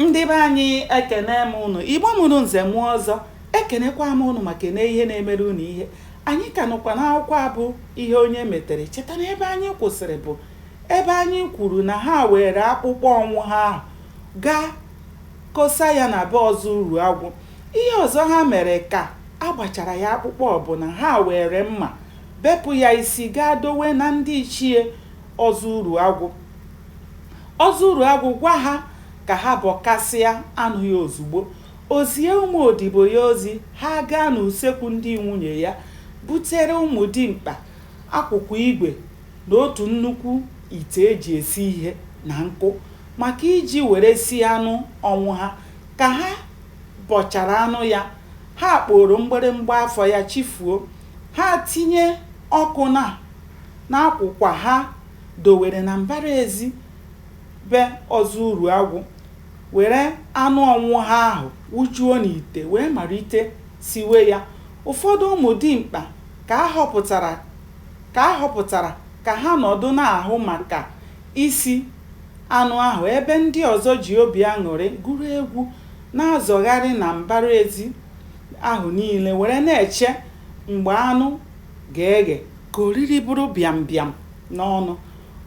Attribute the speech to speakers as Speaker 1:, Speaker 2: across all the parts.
Speaker 1: ndị be anyị ekene m ụnụ igbo mụrụ nze mụọ ọzọ ekenekwa m ụnụ ma kene ihe na-emere ụnụ ihe anyị ka nọkwa n'akwụkwọ a bụ ihe onye metere cheta na ebe anyị kwụsịrị bụ ebe anyị kwuru na ha weere akpụkpọ ọnwụ ha ahụ gaa kosa ya na be ọzọ uruagwụ ihe ọzọ ha mere ka a gbachara ya akpụkpọ bụ na ha weere mma bepụ ya isi gaa dowe na ndị ichie ọzọ uruagwụ Ọzọ Uruagwụ gwa ha ka ha bọkasịa anụ ya ozugbo. O zie ụmụ odibo ya ozi, ha agaa n'usekwu ndị nwunye ya butere ụmụ dimkpa akwụkwa igwe na otu nnukwu ite e ji esi ihe na nkụ maka iji were sie anụ ọnwụ ha. Ka ha bọchara anụ ya, ha akpooro mgbịrịmgba afọ ya chifuo. Ha atinye ọkụ na n'akwụkwa ha. dowere na mbara ezi be Ọzọ Uruagwụ, were anụ ọnwụ ha ahụ wụjuo n'ite wee malite siwe ya. Ụfọdụ ụmụ dimkpa ka a họpụtara ka ha nọdụ na-ahụ maka isi anụ ahụ ebe ndị ọzọ ji obi aṅụrị gụrụ egwu na-azọgharị na mbara ezi ahụ niile were na-eche mgbe anụ ga-eghe. Ka oriri bụrụ bịam bịam n'ọnụ.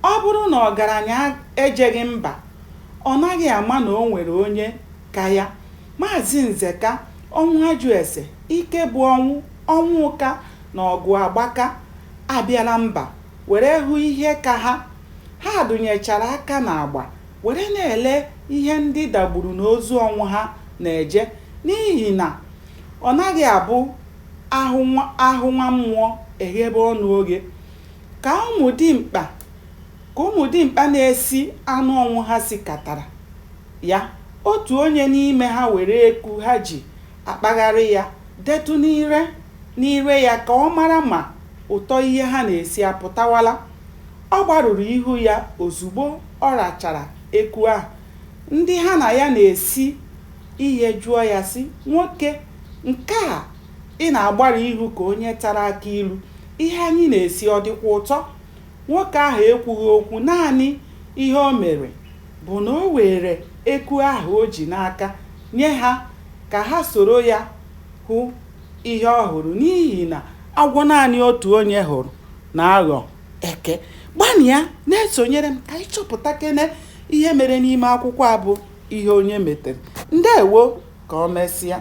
Speaker 1: Ọ bụrụ na ọgaranya ejeghị mba, ọ naghị ama na o nwere onye ka ya. Maazị Nzeka, Ọnwụajụese, Ikebụọnwụ, Ọnwụụka na Ọgụagbaka abịala mba were hụ ihe ka ha. Ha dụnyechara aka n'agba were na-ele ihe ndị dagburu n'ozu ọnwụ ha na-eje n'ihi na Ọ naghị abụ a hụ nwa mmụọ e ghebe ọnụ oghe. Ka ụmụ dimkpa Ka ụmụ dimkpa na-esi anụ ọnwụ ha sikatara ya, otu onye n'ime ha were eku ha ji akpagharị ya detụ n'ire ya ka ọ mara ma ụtọ ihe ha na-esi apụtawala. Ọ gbarụrụ ihu ya ozugbo ọ rachara eku ahụ. Ndị ha na ya na-esi Ihe jụọ ya sị, Nwoke, nke a ị na-agbarụ ihu ka onye tara akị ilu, ihe anyị na-esi ọ dịkwa ụtọ? Nwoke ahụ ekwughị okwu, naanị ihe o mere bụ na o weere eku ahụ o ji n'aka nye ha ka ha soro ya hụ ihe ọ hụrụ n'ihi na agwọ naanị otu onye hụrụ na-aghọ eke. Gbanịa na-esonyere m ka anyị chọpụtakene Ihe mere n'ime akwụkwọ a bụ ihe onye metere. Ndewo, ka ọ mesịa.